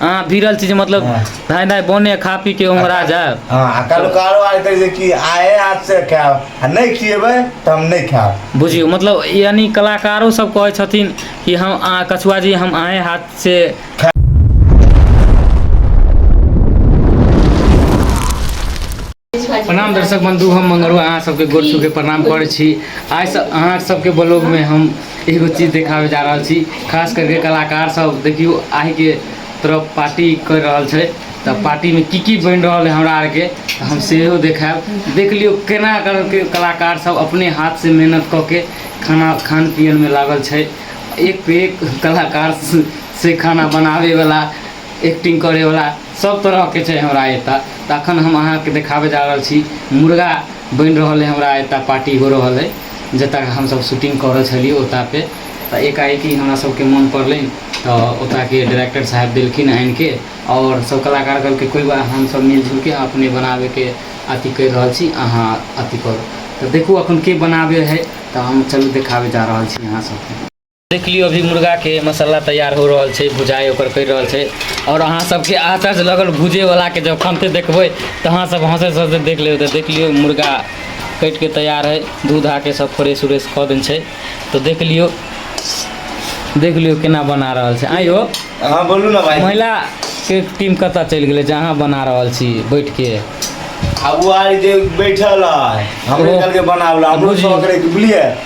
अहाँ भिड़ल छी जे मतलब हँ। धाय धाय बने खा पी के ओंघरा जायब हँ आ काल्हि कारो आइ कहै छै कि आए हाथसँ खायब आ नहि खियेबै तऽ हम नहि खायब बुझियौ मतलब यानि कलाकारो सब कहै छथिन कि हम अहाँ कछुआ जी हम अहें हाथ से प्रणाम दर्शक बंधु हम मंगरू अहाँ सबके गोर छू के प्रणाम करै छी आइ सब अहाँ सबके ब्लॉग में हम एगो चीज देखाबे जा रहल छी खास करके कलाकार सब देखियो आइ के तरफ पार्टी कर रहल छै तऽ पार्टी में की की बन रहल है हमरा आर के तऽ हम सेहो देखायब देख लियो केना करके कलाकार सब अपने हाथ से मेहनत कऽ के खाना खान पियन में लागल छै एक पे एक कलाकार से खाना बनाबे वाला एक्टिंग करै वाला सब तरह के छै हमरा एता तऽ अखन हम अहाँ के देखाबे जा रहल छी मुर्गा बन रहल है हमरा एता पार्टी हो रहल है जता हम सब शूटिंग कर रहल छलिए ओता पे तऽ एकाएकी हमरा सब के मन पड़ल तऽ ओता के डायरेक्टर साहब देलखिन आनि के और सब कलाकार कहलकै कोई बात हम सब मिलजुल के अपने बनाबे के अथी कर रहल छी अहाँ अथी करू तऽ देखू अखन के बनाबे है तऽ हम चलू देखाबे जा रहल छी अहाँ सब के देख लियौ अभी मुर्गाके मसाला तैयार हो रहल छै भुजाइ ओकर करि रहल छै आओर अहाँ सबके आतर से लगल भुजेवलाके जब खनते देखबै तऽ अहाँ सब हँसै हँसते देख लेबै तऽ देख लियौ मुर्गा कटिके तैयार है दूध आके सब फ्रेश उरेश कऽ देने छै तऽ देख लियौ देख लियौ केना बना रहल छै आइयो अहाँ बोलू ने भाई महिलाके टीम कतऽ चलि गेलै जे अहाँ बना रहल छी बैठके अब वो आर जे बैठल है हमरे ओहो। कल के बनावला हमरो बुझियौ। शौक रहे बुझलिए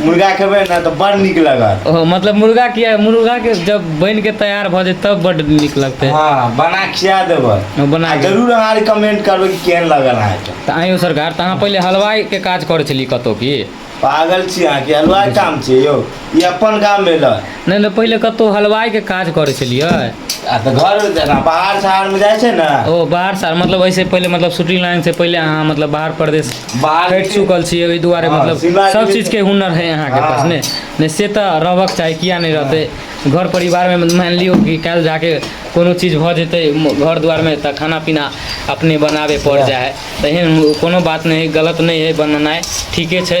मुर्गा खेबै ने तऽ बड़ नीक लगत ओ मतलब मुर्गा किया मुर्गा के जब बन के तैयार भऽ जेत तब बड नीक लगतै हँ बना खिया देबै हँ, बना आ के। जरूर अहाँ रिकमेंड करबै कि केहन लागल अहाँके तऽ आइयो सरकार तऽ अहाँ पहिले हलवाइ के काज करै छलियै कतौ की पागल छी अहाँके अलवाइ काम छै यौ ई अपन काम भेलै नहि नहि पहिले कतहु हलवाइके काज करै छलियै आ तऽ घर जेना बाहर शहरमे जाइ छै ने ओ बाहर साल मतलब एहिसँ पहिले मतलब शूटिंग लाइनसँ पहिले अहाँ मतलब बाहर प्रदेश बाहर कटि चुकल छियै ओहि दुआरे हँ, मतलब शिमला सब गेलियै चीजके हुनर है अहाँके पास हँ। ने नहि से तऽ रहबक चाही किया नहि रहतै घर परिवारमे मानि लियौ कि काल्हि जा कऽ कोनो चीज भऽ जेतै म- घर दुआरमे तऽ खाना पीना अपने बनाबय पड़ि जाइ हइ तऽ एहन कोनो बात नहि हइ गलत नहि हइ बनेनाइ ठीके छै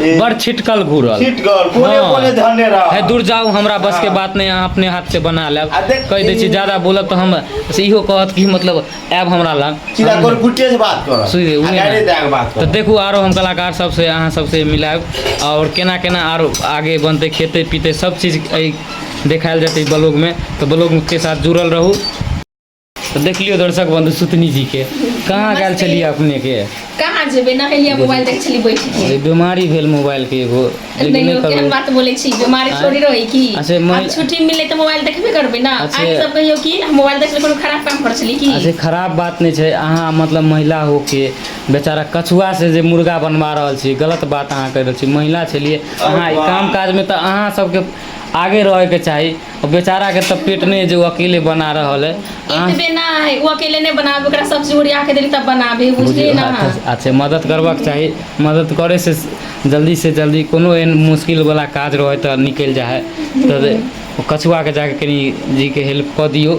ए, बड़ छिटकल घूरल छिटगर कोने हाँ। कोने धने रह है दूर जाऊ हमरा बस के हाँ। बात नहीं अहाँ अपने हाथ से बना लेब आ देख- कह दै छी ज्यादा बोलब तऽ हम से इहो कहत कि मतलब आयब हमरा लग सीधा कोन गुटे से बात कर सुनि दे, उहे डायरे ना। दए के बात तऽ कर देखू आरो हम कलाकार सबसे अहाँ सबसे मिलायब आओर केना केना आरो आगे बनतै खेतै पीतै सब चीज एहि देखायल जेतै ब्लॉगमे तऽ ब्लॉगके साथ जुड़ल रहू तो देख लियो दर्शक बंधु सुतनी जी के कहाँ गल चलिए अपने के कहाँ जेबे नहेलिए मोबाइल देख चली बैठ के बीमारी भेल मोबाइल के एगो नहीं केहन बात बोले छी बीमारी थोड़ी रही की अच्छा मन छुट्टी मिले तो मोबाइल देखबे करबे ना आज सब कहियो कि मोबाइल देखले कोनो खराब काम कर चली की अच्छा खराब बात नहीं छै अहाँ मतलब महिला हो के बेचारा कछुआ से जे मुर्गा बनवा रहल छी गलत बात अहाँ कर रहल छी महिला छलिए अहाँ काम काज में तो अहाँ सबके आगे रहे के चाहिए ओ बेचारा के तब पेट नहीं है जो अकेले बना रहा है इतने ना है वो अकेले नहीं बना ओकरा सब जोड़िया के देली तब बनाबे बुझलिए ना अच्छा मदद करबाक चाही मदद करे से जल्दी से जल्दी कोनो एहन मुश्किल वाला काज रहे तो निकल जाए तो कछुआ के जाके कनी जी के हेल्प कऽ दियौ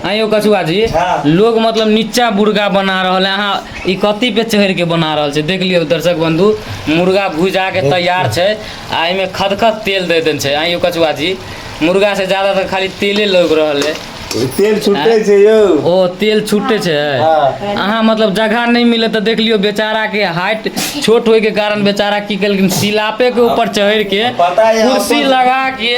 हाँ यौ कछुआ जी हाँ। लोग मतलब नीचा मुर्गा बना रहल है अहाँ ई कथी पे चढ़ के बना रहल छै देख लियौ दर्शक बंधु मुर्गा भुजा के तैयार छै आ एहिमे खदखद तेल दे देन छै हाँ यौ कछुआ जी मुर्गा से ज्यादा तो खाली तेले लग रहल है तेल छुटे छै यौ ओ तेल छुटे छै हाँ। अहाँ मतलब जगह नहीं मिले तो देख लियो बेचारा के हाइट छोट होए के कारण बेचारा की केलखिन सिलापे के ऊपर चढ़ के पता है, कुर्सी अपन- लगा के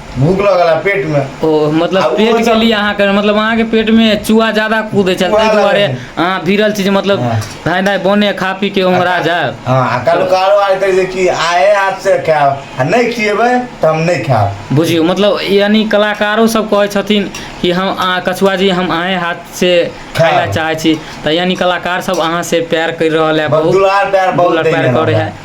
भूख लगल है पेट में ओ मतलब आब पेट ओहो के सब- लिए अहाँ कर मतलब अहाँ के पेट में चूहा ज्यादा कूदे छै चूहा ताहि दुआरे लगे। अहाँ भिड़ल छी जे मतलब हाँ। धाय धाय बने खा पी के उमरा जाए हाँ आ काल्हु कारो आर कहै छै कि आए हाथ से खायब आ नहि खिएबै तऽ हम नहि खायब बुझियौ मतलब यानी कलाकारो सब कहै छथिन कि हम अहाँ कछुआ जी हम अहें हाथ से खाय ला चाहै छी तऽ यानी कलाकार सब अहाँ से प्यार कर रहल है बहुत बहुत दुलार प्यार बहुत दुलार प्यार देने करे हमरा। है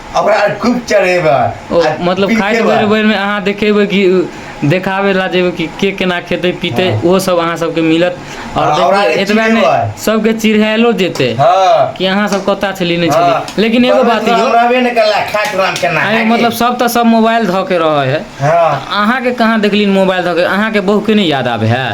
ओकरा खूब चढ़ेबै ओ आ मतलब पीटेबै। खाइत बेर बेरमे अहाँ देखेबै कि देखाबै लए जेबै कि के केना खेतै पीतै हँ। ओहो सब अहाँ सबके मिलत आओर हँ, ओकरा देखबै जे एतबए नहि चिड़ेबै सबके चिढ़ायलो जेतै हँ कि अहाँ सब कतय छलियै नहि छलियै हँ लेकिन एगो बात परमेश्वर यौ रहबे नहि करला खाइत राम केना आँय यौ खायके मतलब सब तऽ सब मोबाइल धऽ के रहै हइ हँ अहाँके कहाँ देखलियै मोबाइल धऽ के अहाँके बहुके नहि याद आबै हइ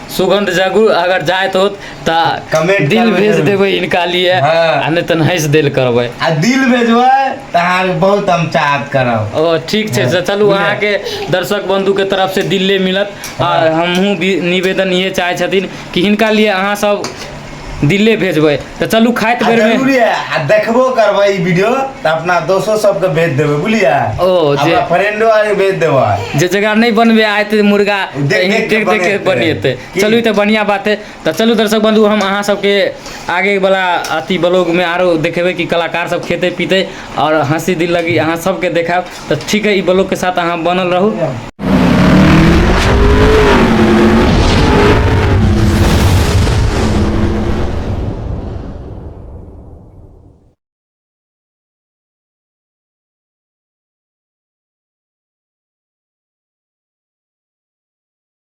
सुगंध जगू अगर जाइत होत तऽ Comment दिल करबै भेज जरूर। देबै इनका लिए हँ। आ नहि तऽ हँसि देल करबै आ दिल भेजबै तऽ अहाँके बहुत हम चाहत करब ओ ठीक छै तऽ चलू बुझलियै। अहाँके दर्शक बन्धुके तरफसँ दिले मिलत आ हमहूँ भी निवेदन इएह चाहै छथिन कि हिनका लिए अहाँसभ दिल्ले भेजबै तऽ चलू खाइत आ बेरमे जरूरी है आ देखबो करबै ई वीडियो तऽ अपना दोस्तो सबके भेज देबै बुझलियै ओ, जे- अपना फ्रेंडो आर के भेज देबै जे जगह नहि बनबे आए तऽ मुर्गा देख- देख देख के देख के बनेतै। बनेतै की? चलू ई तऽ बढ़िआँ बात है तऽ चलू दर्शक बंधु हम अहाँ सबके आगे वाला अथी ब्लॉगमे आरो देखेबै कि कलाकार सब खेतै पीतै आओर हँसी दिल लगी अहाँ सबके देखायब तऽ ठीक है ई ब्लॉग के साथ अहाँ बनल रहू